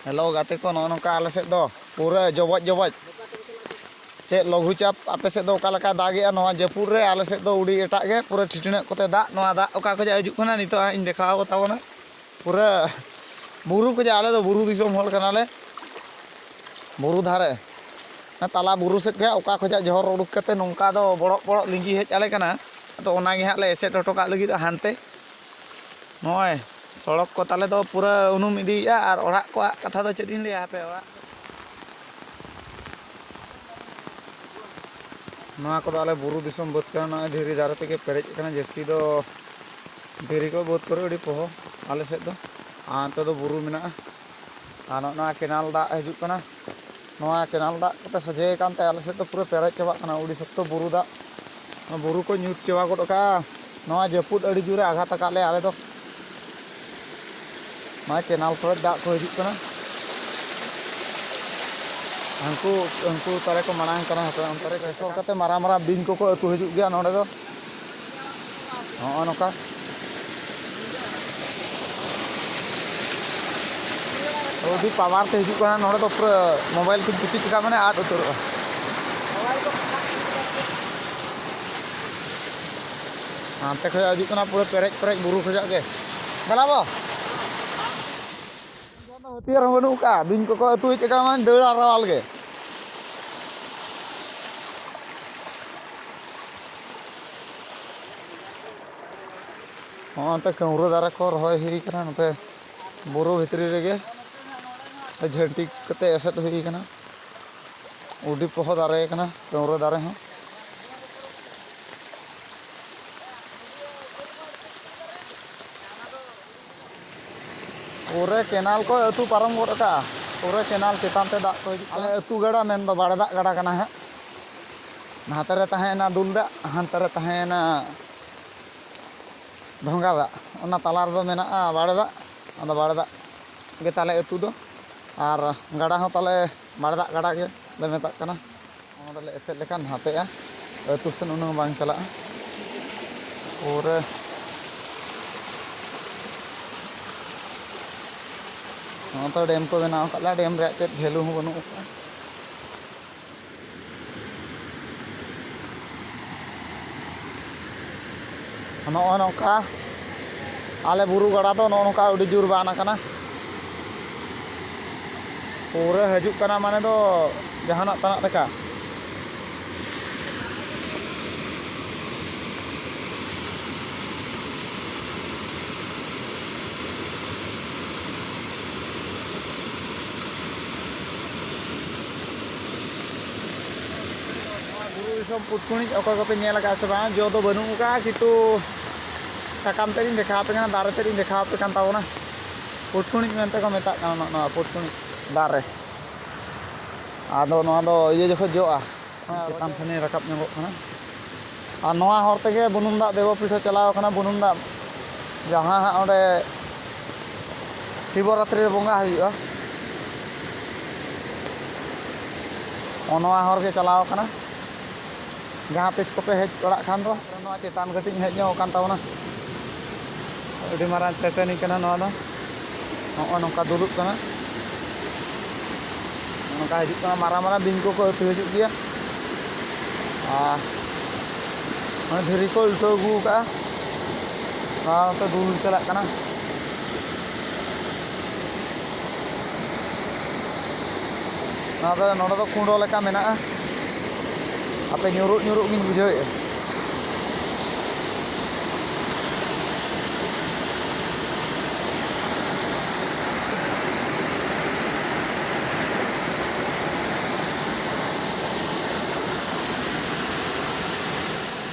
hello ᱜᱟᱛᱮ ᱠᱚ ᱱᱚᱜᱼᱚ ᱱᱚᱝᱠᱟ ᱟᱞᱮ ᱥᱮᱫ ᱫᱚ ᱯᱩᱨᱟᱹ ᱡᱚᱵᱚᱡ ᱡᱚᱵᱚᱡ ᱪᱮᱫ ᱞᱚᱜᱷᱩ ᱪᱟᱯ ᱟᱯᱮ ᱥᱮᱫ ᱫᱚ ᱚᱠᱟ ᱞᱮᱠᱟ ᱫᱟᱜᱮᱜᱼᱟ ᱱᱚᱣᱟ ᱡᱟᱹᱯᱩᱫ ᱨᱮ ᱟᱞᱮ ᱥᱮᱫ ᱫᱚ ᱩᱰᱤ ᱮᱴᱟᱜ ᱜᱮ ᱯᱩᱨᱟᱹ ᱴᱷᱤᱴᱤᱱᱟᱹᱜ ᱠᱚᱛᱮ ᱫᱟᱜ ᱱᱚᱣᱟ ᱫᱟᱜ ᱚᱠᱟ ᱠᱷᱚᱡᱟᱜ ᱦᱤᱡᱩᱜ ᱠᱟᱱᱟ ᱱᱤᱛᱚᱜ ᱦᱟᱸᱜ ᱤᱧ ᱫᱮᱠᱷᱟᱣ ᱠᱚ ᱛᱟᱵᱚᱱᱟ ᱯᱩᱨᱟᱹ ᱵᱩᱨᱩ ᱠᱷᱚᱡᱟᱜ ᱟᱞᱮ ᱫᱚ ᱵᱩᱨᱩ ᱫᱤᱥᱚᱢ ᱦᱚᱲ ᱠᱟᱱᱟᱞᱮ ᱵᱩᱨᱩ ᱫᱷᱟᱨᱮ ᱛᱟᱞᱟ ᱵᱩᱨᱩ ᱥᱮᱫ ᱜᱮ ᱚᱠᱟ ᱠᱷᱚᱡᱟᱜ ᱡᱚᱦᱚᱨ ᱩᱰᱩᱠ ᱠᱟᱛᱮ ᱱᱚᱝᱠᱟ ᱫᱚ ᱵᱚᱲᱚᱜ ᱵᱚᱲᱚᱜ ᱞᱤᱸᱜᱤ ᱦᱮᱡ ᱟᱞᱮ ᱠᱟᱱᱟ ᱟᱫᱚ ᱚᱱᱟᱜᱮ ᱦᱟᱸᱜ ᱞᱮ ᱮᱥᱮᱫ ᱦᱚᱴᱚ ᱠᱟᱜ ᱞᱟᱹᱜᱤᱫ ᱦᱟᱱᱛᱮ ᱱᱚᱜᱼᱚᱭ ᱥᱚᱲᱚᱠ ᱠᱚ ᱛᱟᱞᱮ ᱫᱚ ᱯᱩᱨᱟᱹ ᱩᱱᱩᱢ ᱤᱫᱤᱭᱮᱜᱼᱟ ᱟᱨ ᱚᱲᱟᱜ ᱠᱚᱣᱟᱜ ᱠᱟᱛᱷᱟ ᱫᱚ ᱪᱮᱫ ᱤᱧ ᱞᱟᱹᱭᱟ ᱦᱟᱯᱮ ᱚᱲᱟᱜ ᱱᱚᱣᱟ ᱠᱚᱫᱚ ᱟᱞᱮ ᱵᱩᱨᱩ ᱫᱤᱥᱚᱢ ᱵᱟᱹᱫᱽ ᱠᱟᱱᱟ ᱱᱚᱜᱼᱚᱭ ᱫᱷᱤᱨᱤ ᱫᱟᱨᱮ ᱛᱮᱜᱮ ᱯᱮᱨᱮᱡ ᱟᱠᱟᱱᱟ ᱡᱟᱹᱥᱛᱤ ᱫᱚ ᱫᱷᱤᱨᱤ ᱠᱚ ᱵᱟᱹᱫᱽ ᱠᱚᱨᱮ ᱟᱹᱰᱤ ᱯᱚᱦᱚ ᱟᱞᱮ ᱥᱮᱫ ᱫᱚ ᱟᱨ ᱱᱚᱛᱮ ᱫᱚ ᱵᱩᱨᱩ ᱢᱮᱱᱟᱜᱼᱟ ᱟᱨ ᱱᱚᱜᱼᱚ ᱱᱚᱣᱟ ᱠᱮᱱᱮᱞ ᱫᱟᱜ ᱦᱤᱡᱩᱜ ᱠᱟᱱᱟ ᱱᱚᱣᱟ ᱠᱮᱱᱟᱞ ᱫᱟᱜ ᱠᱚᱛᱮ ᱥᱚᱡᱷᱮ ᱟᱠᱟᱱ ᱛᱮ ᱟᱞᱮ ᱥᱮᱫ ᱫᱚ ᱯᱩᱨᱟᱹ ᱯᱮᱨᱮᱡ ᱪᱟᱵᱟᱜ ᱠᱟᱱᱟ ᱟᱹᱰᱤ ᱥᱚᱠᱛᱚ ᱵᱩᱨᱩ ᱫᱟᱜ ᱵᱩᱨᱩ ᱠᱚ ᱧᱩᱛ ᱪᱟᱵᱟ ᱜᱚᱫ ᱟᱠᱟᱫᱼᱟ ᱱᱚᱣᱟ ᱡᱟᱹᱯᱩᱫ ᱟᱹᱰᱤ ᱡᱳᱨᱮ ᱟᱜᱷᱟᱛ ᱟᱠᱟᱫ ᱞᱮᱭᱟ ᱟᱞᱮ ᱫᱚ ᱱᱚᱣᱟ ᱠᱮᱱᱟᱞ ᱠᱚᱨᱮ ᱫᱟᱜ ᱠᱚ ᱦᱤᱡᱩᱜ ᱠᱟᱱᱟ ᱦᱟᱹᱱᱠᱩ ᱦᱟᱹᱱᱠᱩ ᱛᱟᱞᱮ ᱠᱚ ᱢᱟᱲᱟᱝ ᱠᱟᱱᱟ ᱦᱟᱯᱮ ᱚᱱᱛᱮ ᱨᱮ ᱜᱮᱥᱚ ᱠᱟᱛᱮᱫ ᱢᱟᱨᱟᱝ ᱢᱟᱨᱟᱝ ᱵᱤᱧ ᱠᱚᱠᱚ ᱟᱹᱛᱩ ᱦᱤᱡᱩᱜ ᱜᱮᱭᱟ ᱱᱚᱰᱮ ᱫᱚ ᱱᱚᱜᱼᱚ ᱱᱚᱝᱠᱟ ᱟᱹᱰᱤ ᱯᱟᱣᱟᱨ ᱛᱮ ᱦᱤᱡᱩᱜ ᱠᱟᱱᱟ ᱱᱚᱰᱮ ᱫᱚ ᱯᱩᱨᱟᱹ ᱢᱳᱵᱟᱭᱤᱞ ᱠᱚᱧ ᱠᱩᱥᱤ ᱠᱮᱫᱟ ᱢᱟᱱᱮ ᱟᱫ ᱩᱛᱟᱹᱨᱚᱜᱼᱟ ᱦᱟᱱᱛᱮ ᱠᱷᱚᱡ ᱦᱤᱡᱩᱜ ᱠᱟᱱᱟ ᱯᱩᱨᱟᱹ ᱯᱮᱨᱮᱡ ᱯᱮᱨᱮᱡ ᱵᱩᱨᱩ ᱠᱷᱚᱡᱟᱜ ᱜᱮ ᱫᱮᱞᱟᱵᱚ ᱦᱟᱹᱛᱤᱭᱟᱹᱨ ᱦᱚᱸ ᱵᱟᱹᱱᱩᱜ ᱠᱟᱜᱼᱟ ᱵᱤᱧ ᱠᱚᱠᱚ ᱟᱹᱛᱩ ᱦᱮᱡ ᱟᱠᱟᱱᱟ ᱢᱟᱱᱮ ᱫᱟᱹᱲ ᱟᱨᱟᱣᱟᱞ ᱜᱮ ᱱᱚᱛᱮ ᱠᱟᱹᱣᱨᱟᱹ ᱫᱟᱨᱮ ᱠᱚ ᱨᱚᱦᱚᱭ ᱦᱩᱭ ᱠᱟᱱᱟ ᱱᱚᱛᱮ ᱵᱩᱨᱩ ᱵᱷᱤᱛᱨᱤ ᱨᱮᱜᱮ ᱡᱷᱟᱹᱱᱴᱤ ᱠᱟᱛᱮ ᱮᱥᱮᱫ ᱦᱩᱭ ᱠᱟᱱᱟ ᱩᱰᱤ ᱠᱚᱦᱚᱸ ᱫᱟᱨᱮ ᱠᱟᱱᱟ ᱠᱟᱹᱣᱨᱟᱹ ᱫᱟᱨᱮ ᱦᱚᱸ ᱯᱩᱨᱟᱹ ᱠᱮᱱᱟᱞ ᱠᱚ ᱟᱹᱛᱩ ᱯᱟᱨᱚᱢ ᱜᱚᱫ ᱟᱠᱟᱜᱼᱟ ᱯᱩᱨᱟᱹ ᱠᱮᱱᱟᱞ ᱪᱮᱛᱟᱱ ᱛᱮ ᱫᱟᱜ ᱠᱚ ᱦᱤᱡᱩᱜ ᱠᱟᱱᱟ ᱟᱞᱮ ᱟᱹᱛᱩ ᱜᱟᱰᱟ ᱢᱮᱱ ᱫᱚ ᱵᱟᱲᱮ ᱫᱟᱜ ᱜᱟᱰᱟ ᱠᱟᱱᱟ ᱦᱟᱸᱜ ᱱᱟᱛᱮ ᱨᱮ ᱛᱟᱦᱮᱸᱭᱮᱱᱟ ᱫᱩᱞ ᱫᱟᱜ ᱦᱟᱱᱛᱮ ᱨᱮ ᱛᱟᱦᱮᱸᱭᱮᱱᱟ ᱰᱷᱚᱸᱜᱟ ᱫᱟᱜ ᱚᱱᱟ ᱛᱟᱞᱟ ᱨᱮᱫᱚ ᱢᱮᱱᱟᱜᱼᱟ ᱵᱟᱲᱮ ᱫᱟᱜ ᱟᱫᱚ ᱵᱟᱲᱮ ᱫᱟᱜ ᱜᱮ ᱛᱟᱞᱮ ᱟᱹᱛᱩ ᱫᱚ ᱟᱨ ᱜᱟᱰᱟ ᱦᱚᱸ ᱛᱟᱞᱮ ᱵᱟᱲᱮ ᱫᱟᱜ ᱜᱟᱰᱟ ᱜᱮᱞᱮ ᱢᱮᱛᱟᱜ ᱠᱟᱱᱟ ᱚᱱᱟ ᱨᱮᱞᱮ ᱮᱥᱮᱫ ᱞᱮᱠᱷᱟᱱ ᱱᱟᱛᱮᱜᱼᱟ ᱟᱹᱛᱩ ᱥᱮᱱ ᱩᱱᱟᱹᱜ ᱵᱟᱝ ᱪᱟᱞᱟᱜᱼᱟ ᱯᱩᱨᱟᱹ ᱱᱚᱛᱮ ᱰᱮᱢ ᱠᱚ ᱵᱮᱱᱟᱣ ᱟᱠᱟᱫ ᱞᱮᱭᱟ ᱰᱮᱢ ᱨᱮᱭᱟᱜ ᱪᱮᱫ ᱵᱷᱮᱞᱩ ᱦᱚᱸ ᱵᱟᱹᱱᱩᱜ ᱟᱠᱟᱫᱼᱟ ᱱᱚᱜᱼᱚᱭ ᱱᱚᱝᱠᱟ ᱟᱞᱮ ᱵᱩᱨᱩ ᱜᱟᱰᱟ ᱫᱚ ᱱᱚᱜᱼᱚ ᱱᱚᱝᱠᱟ ᱟᱹᱰᱤ ᱡᱳᱨ ᱵᱟᱱ ᱟᱠᱟᱱᱟ ᱯᱩᱨᱟᱹ ᱦᱤᱡᱩᱜ ᱠᱟᱱᱟ ᱢᱟᱱᱮ ᱫᱚ ᱡᱟᱦᱟᱱᱟᱜ ᱛᱟᱱᱟᱜ ᱞᱮᱠᱟ ᱵᱩᱨᱩ ᱫᱤᱥᱚᱢ ᱯᱩᱴᱠᱩᱱᱤᱡ ᱚᱠᱚᱭ ᱠᱚᱯᱮ ᱧᱮᱞ ᱟᱠᱟᱫ ᱥᱮ ᱵᱟᱝ ᱡᱚ ᱫᱚ ᱵᱟᱹᱱᱩᱜ ᱟᱠᱟᱫᱼᱟ ᱠᱤᱱᱛᱩ ᱥᱟᱠᱟᱢ ᱛᱮᱫ ᱤᱧ ᱫᱮᱠᱷᱟᱣ ᱟᱯᱮ ᱠᱟᱱᱟ ᱫᱟᱨᱮ ᱛᱮᱫ ᱤᱧ ᱫᱮᱠᱷᱟᱣ ᱟᱯᱮ ᱠᱟᱱ ᱛᱟᱵᱚᱱᱟ ᱯᱩᱴᱠᱩᱱᱤᱡ ᱢᱮᱱᱛᱮ ᱠᱚ ᱢᱮᱛᱟᱜ ᱠᱟᱱᱟ ᱱᱚᱜᱼᱚ ᱱᱚᱣᱟ ᱯᱩᱴᱠᱩᱱᱤᱡ ᱫᱟᱨᱮ ᱟᱫᱚ ᱱᱚᱣᱟ ᱫᱚ ᱤᱭᱟᱹ ᱡᱚᱠᱷᱚᱱ ᱡᱚᱜᱼᱟ ᱪᱮᱛᱟᱱ ᱥᱮᱱᱤᱧ ᱨᱟᱠᱟᱵ ᱧᱚᱜᱚᱜ ᱠᱟᱱᱟ ᱟᱨ ᱱᱚᱣᱟ ᱦᱚᱨ ᱛᱮᱜᱮ ᱵᱩᱱᱩᱢ ᱫᱟᱜ ᱫᱮᱵᱚᱯᱤᱴᱷ ᱦᱚᱸ ᱪᱟᱞᱟᱣ ᱟᱠᱟᱱᱟ ᱵᱩᱱᱩᱢ ᱫᱟᱜ ᱡᱟᱦᱟᱸ ᱦᱟᱸᱜ ᱚᱸᱰᱮ ᱥᱤᱵᱚ ᱨᱟᱛᱨᱤ ᱨᱮ ᱵᱚᱸᱜᱟ ᱦᱩᱭᱩᱜᱼᱟ ᱱᱚᱣᱟ ᱦᱚᱨ ᱜᱮ ᱪᱟᱞᱟᱣ ᱠᱟᱱᱟ ᱡᱟᱦᱟᱸ ᱛᱤᱥ ᱠᱚᱯᱮ ᱦᱮᱡ ᱵᱟᱲᱟᱜ ᱠᱷᱟᱱ ᱫᱚ ᱱᱚᱣᱟ ᱪᱮᱛᱟᱱ ᱠᱟᱹᱴᱤᱡ ᱦᱮᱡ ᱧᱚᱜ ᱟᱠᱟᱱ ᱛᱟᱵᱚᱱᱟ ᱟᱹᱰᱤ ᱢᱟᱨᱟᱝ ᱪᱟᱹᱴᱟᱹᱱᱤ ᱠᱟᱱᱟ ᱱᱚᱣᱟ ᱫᱚ ᱱᱚᱜᱼᱚ ᱱᱚᱝᱠᱟ ᱫᱩᱞᱩᱜ ᱠᱟᱱᱟ ᱱᱚᱝᱠᱟ ᱦᱤᱡᱩᱜ ᱠᱟᱱᱟ ᱢᱟᱨᱟᱝ ᱢᱟᱨᱟᱝ ᱵᱤᱧ ᱠᱚᱠᱚ ᱟᱹᱛᱩ ᱦᱤᱡᱩᱜ ᱜᱮᱭᱟ ᱟᱨ ᱫᱷᱤᱨᱤ ᱠᱚ ᱩᱞᱴᱟᱹᱣ ᱟᱹᱜᱩ ᱠᱟᱜᱼᱟ ᱱᱚᱣᱟ ᱦᱚᱸᱛᱚ ᱫᱩᱞ ᱪᱟᱞᱟᱜ ᱠᱟᱱᱟ ᱱᱚᱣᱟ ᱫᱚ ᱱᱚᱰᱮ ᱫᱚ ᱠᱩᱸᱰᱚ ᱞᱮᱠᱟ ᱢᱮᱱᱟᱜᱼᱟ ᱟᱯᱮ ᱧᱩᱨᱩᱜ ᱧᱩᱨᱩᱜ ᱜᱤᱧ ᱵᱩᱡᱷᱟᱹᱣᱮᱫᱼᱟ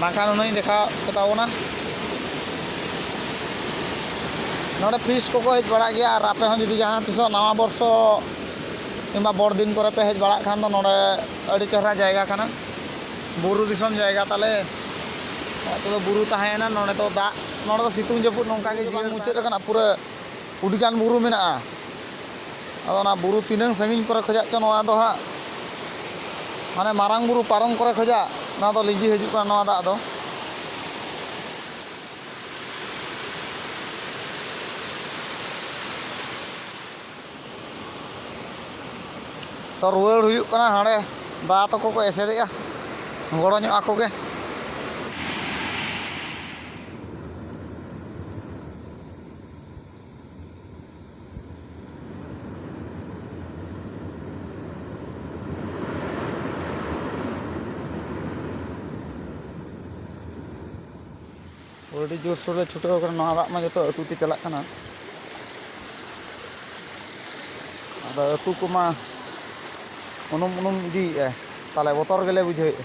ᱵᱟᱝᱠᱷᱟᱱ ᱩᱱᱟᱹᱜ ᱤᱧ ᱫᱮᱠᱷᱟᱣ ᱠᱚᱛᱟ ᱵᱚᱱᱟ ᱱᱚᱰᱮ ᱯᱷᱤᱥᱴ ᱠᱚᱠᱚ ᱦᱮᱡ ᱵᱟᱲᱟᱜ ᱜᱮᱭᱟ ᱟᱨ ᱟᱯᱮ ᱦᱚᱸ ᱡᱩᱫᱤ ᱡᱟᱦᱟᱸ ᱛᱤᱥᱚᱜ ᱱᱟᱣᱟ ᱵᱚᱨᱥᱚ ᱠᱤᱝᱵᱟ ᱵᱚᱲ ᱫᱤᱱ ᱠᱚᱨᱮ ᱯᱮ ᱦᱮᱡ ᱵᱟᱲᱟᱜ ᱠᱷᱟᱱ ᱫᱚ ᱱᱚᱰᱮ ᱟᱹᱰᱤ ᱪᱮᱦᱨᱟ ᱡᱟᱭᱜᱟ ᱠᱟᱱᱟ ᱵᱩᱨᱩ ᱫᱤᱥᱚᱢ ᱡᱟᱭᱜᱟ ᱛᱟᱞᱮ ᱱᱚᱛᱮ ᱫᱚ ᱵᱩᱨᱩ ᱛᱟᱦᱮᱸᱭᱮᱱᱟ ᱱᱚᱰᱮ ᱫᱚ ᱫᱟᱜ ᱱᱚᱰᱮ ᱫᱚ ᱥᱤᱛᱩᱝ ᱡᱟᱹᱯᱩᱫ ᱱᱚᱝᱠᱟ ᱜᱮ ᱡᱤᱭᱚᱱ ᱢᱩᱪᱟᱹᱫ ᱟᱠᱟᱱᱟ ᱯᱩᱨᱟᱹ ᱟᱹᱰᱤ ᱜᱟᱱ ᱵᱩᱨᱩ ᱢᱮᱱᱟᱜᱼᱟ ᱟᱫᱚ ᱚᱱᱟ ᱵᱩᱨᱩ ᱛᱤᱱᱟᱹᱝ ᱥᱟᱺᱜᱤᱧ ᱠᱚᱨᱮ ᱠᱷᱚᱱᱟᱜ ᱪᱚ ᱱᱚᱣᱟ ᱫᱚ ᱦᱟᱸᱜ ᱢᱟᱱᱮ ᱢᱟᱨᱟᱝ ᱵᱩᱨᱩ ᱯᱟᱨᱚᱢ ᱠᱚᱨᱮ ᱠᱷᱚᱱᱟᱜ ᱱᱚᱣᱟ ᱫᱚ ᱞᱤᱸᱡᱤ ᱦᱤᱡᱩᱜ ᱠᱟᱱᱟ ᱱᱚᱣᱟ ᱫᱟᱜ ᱫᱚ ᱛᱚ ᱨᱩᱣᱟᱹᱲ ᱦᱩᱭᱩᱜ ᱠᱟᱱᱟ ᱦᱟᱸᱰᱮ ᱫᱟᱫᱟ ᱛᱟᱠᱚ ᱠᱚ ᱮᱥᱮᱫᱮᱜᱼᱟ ᱜᱚᱲᱚ ᱧᱚᱜ ᱟᱠᱚ ᱜᱮ ᱟᱹᱰᱤ ᱡᱳᱨᱥᱳᱨ ᱞᱮ ᱪᱷᱩᱴᱟᱹᱣ ᱠᱟᱱᱟ ᱱᱚᱣᱟ ᱫᱟᱜ ᱢᱟ ᱡᱚᱛᱚ ᱟᱹᱛᱩ ᱛᱮ ᱪᱟᱞᱟᱜ ᱠᱟᱱᱟ ᱟᱫᱚ ᱟᱹᱛᱩ ᱠᱚᱢᱟ ᱩᱱᱩᱢ ᱩᱱᱩᱢ ᱤᱫᱤᱭᱮᱫᱼᱟ ᱛᱟᱦᱚᱞᱮ ᱵᱚᱛᱚᱨ ᱜᱮᱞᱮ ᱵᱩᱡᱷᱟᱹᱣᱮᱫᱼᱟ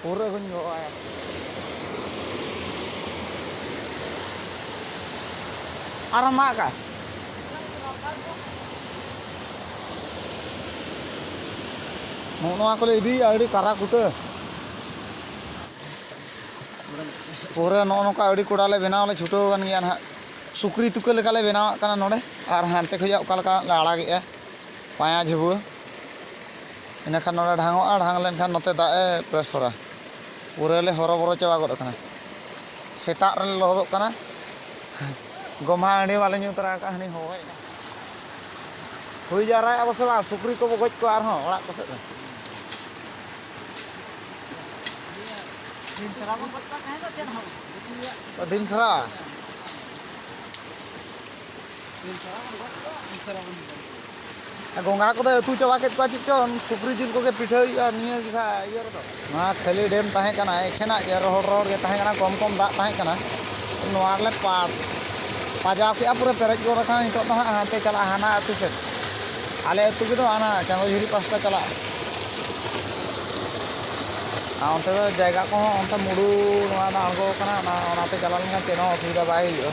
ᱯᱩᱨᱟᱹ ᱦᱚᱧ ᱜᱚᱜ ᱟᱭᱟ ᱟᱨ ᱢᱟᱜᱟ ᱱᱚᱜᱼᱚ ᱱᱚᱣᱟ ᱠᱚᱞᱮ ᱤᱫᱤᱭᱮᱫᱼᱟ ᱟᱹᱰᱤ ᱠᱟᱨᱟ ᱠᱩᱴᱟᱹ ᱯᱩᱨᱟᱹ ᱱᱚᱜᱼᱚ ᱱᱚᱝᱠᱟ ᱟᱹᱰᱤ ᱠᱚᱲᱟ ᱞᱮ ᱵᱮᱱᱟᱣ ᱞᱮ ᱪᱷᱩᱴᱟᱹᱣ ᱟᱠᱟᱱ ᱜᱮᱭᱟ ᱱᱟᱦᱟᱜ ᱥᱩᱠᱨᱤ ᱛᱩᱠᱟᱹ ᱞᱮᱠᱟᱞᱮ ᱵᱮᱱᱟᱣᱟᱜ ᱠᱟᱱᱟ ᱱᱚᱰᱮ ᱟᱨ ᱦᱟᱱᱛᱮ ᱠᱷᱚᱱᱟᱜ ᱚᱠᱟ ᱞᱮᱠᱟ ᱞᱮ ᱟᱲᱟᱜᱮᱫᱼᱟ ᱯᱟᱸᱭᱟ ᱡᱷᱩᱵᱟᱹ ᱤᱱᱟᱹ ᱠᱷᱟᱱ ᱱᱚᱰᱮ ᱰᱷᱟᱝᱚᱜᱼᱟ ᱰᱷᱟᱝ ᱞᱮᱱ ᱠᱷᱟᱱ ᱱᱚᱛᱮ ᱫᱟᱜ ᱮ ᱯᱨᱮᱥᱚᱨᱟ ᱯᱩᱨᱟᱹ ᱞᱮ ᱦᱚᱨᱚ ᱵᱚᱨᱚ ᱪᱟᱵᱟ ᱜᱚᱫ ᱟᱠᱟᱱᱟ ᱥᱮᱛᱟᱜ ᱨᱮᱞᱮ ᱞᱚᱦᱚᱫᱚᱜ ᱠᱟᱱᱟ ᱜᱚᱢᱦᱟ ᱦᱟᱺᱰᱤ ᱵᱟᱞᱮ ᱧᱩ ᱛᱚᱨᱟ ᱟᱠᱟᱫᱼᱟ ᱦᱟᱹᱱᱤ ᱦᱚᱦᱚᱭᱮᱫ ᱠᱟᱱᱟ ᱦᱩᱭ ᱡᱟᱣᱨᱟᱭᱮᱫᱼᱟ ᱵᱚ ᱥᱮ ᱵᱟᱝ ᱥᱩᱠᱨᱤ ᱠᱚᱵᱚ ᱜᱚᱡ ᱠᱚᱣᱟ ᱟᱨᱦᱚᱸ ᱚᱲᱟᱜ ᱠᱚᱥᱮᱫ ᱫᱚ ᱫᱤᱱ ᱥᱟᱨᱟ ᱵᱚᱱ ᱜᱚᱡ ᱠᱚᱣᱟ ᱛᱟᱦᱮᱸ ᱫᱚ ᱪᱮᱫ ᱦᱚᱸ ᱫᱤᱱ ᱥᱟᱨᱟ ᱜᱚᱸᱜᱟ ᱠᱚᱫᱚ ᱟᱹᱛᱩ ᱪᱟᱵᱟ ᱠᱮᱫ ᱠᱚᱣᱟ ᱪᱮᱫ ᱪᱚᱝ ᱥᱩᱠᱨᱤ ᱡᱤᱞ ᱠᱚᱜᱮ ᱯᱤᱴᱷᱟᱹ ᱦᱩᱭᱩᱜᱼᱟ ᱱᱤᱭᱟᱹ ᱡᱚᱠᱷᱟ ᱤᱭᱟᱹ ᱨᱮᱫᱚ ᱱᱚᱣᱟ ᱠᱷᱟᱹᱞᱤ ᱰᱮᱢ ᱛᱟᱦᱮᱸ ᱠᱟᱱᱟ ᱮᱠᱷᱮᱱᱟᱜ ᱜᱮ ᱨᱚᱦᱚᱲ ᱨᱚᱦᱚᱲ ᱜᱮ ᱛᱟᱦᱮᱸ ᱠᱟᱱᱟ ᱠᱚᱢ ᱠᱚᱢ ᱫᱟᱜ ᱛᱟᱦᱮᱸ ᱠᱟᱱᱟ ᱱᱚᱣᱟ ᱨᱮᱞᱮ ᱯᱟᱴ ᱯᱟᱡᱟᱣ ᱠᱮᱜᱼᱟ ᱯᱩᱨᱟᱹ ᱯᱮᱨᱮᱡ ᱜᱚᱫ ᱟᱠᱟᱱᱟ ᱱᱤᱛᱚᱜ ᱫᱚ ᱦᱟᱸᱜ ᱦᱟᱱᱛᱮ ᱪᱟᱞᱟᱜᱼᱟ ᱦᱟᱱᱟ ᱟᱹᱛᱩ ᱥᱮᱫ ᱟᱞᱮ ᱟᱹᱛᱩ ᱜᱮᱫᱚ ᱦᱟᱱᱟ ᱪᱟᱸᱫᱚᱡᱷᱩᱨᱤ ᱯᱟᱥᱴᱟ ᱪᱟᱞᱟᱜᱼᱟ ᱟᱨ ᱚᱱᱛᱮ ᱫᱚ ᱡᱟᱭᱜᱟ ᱠᱚᱦᱚᱸ ᱚᱱᱛᱮ ᱢᱩᱰᱩ ᱱᱚᱣᱟ ᱫᱚ ᱟᱬᱜᱚ ᱟᱠᱟᱱᱟ ᱚᱱᱟ ᱚᱱᱟᱛᱮ ᱪᱟᱞᱟᱣ ᱞᱮᱱᱠᱷᱟᱱ ᱪᱮᱫ ᱦᱚᱸ ᱚᱥᱩᱵᱤᱫᱷᱟ ᱵᱟᱭ ᱦᱩᱭᱩᱜᱼᱟ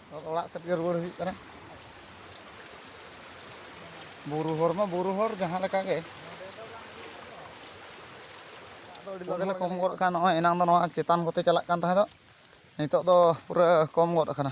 ᱚᱲᱟᱜ ᱥᱮᱫ ᱜᱮ ᱨᱩᱣᱟᱹᱲ ᱦᱩᱭᱩᱜ ᱠᱟᱱᱟ ᱵᱩᱨᱩ ᱦᱚᱲ ᱢᱟ ᱵᱩᱨᱩ ᱦᱚᱲ ᱡᱟᱦᱟᱸ ᱞᱮᱠᱟ ᱜᱮ ᱟᱫᱚ ᱠᱚᱢ ᱜᱚᱫ ᱠᱟᱱ ᱱᱚᱜᱼᱚᱭ ᱮᱱᱟᱝ ᱫᱚ ᱱᱚᱣᱟ ᱪᱮᱛᱟᱱ ᱠᱚᱛᱮ ᱪᱟᱞᱟᱜ ᱠᱟᱱ ᱛᱟᱦᱮᱸ ᱫᱚ ᱱᱤᱛᱚᱜ ᱫᱚ ᱯᱩᱨᱟᱹ ᱠᱚᱢ ᱜᱚᱫ ᱟᱠᱟᱱᱟ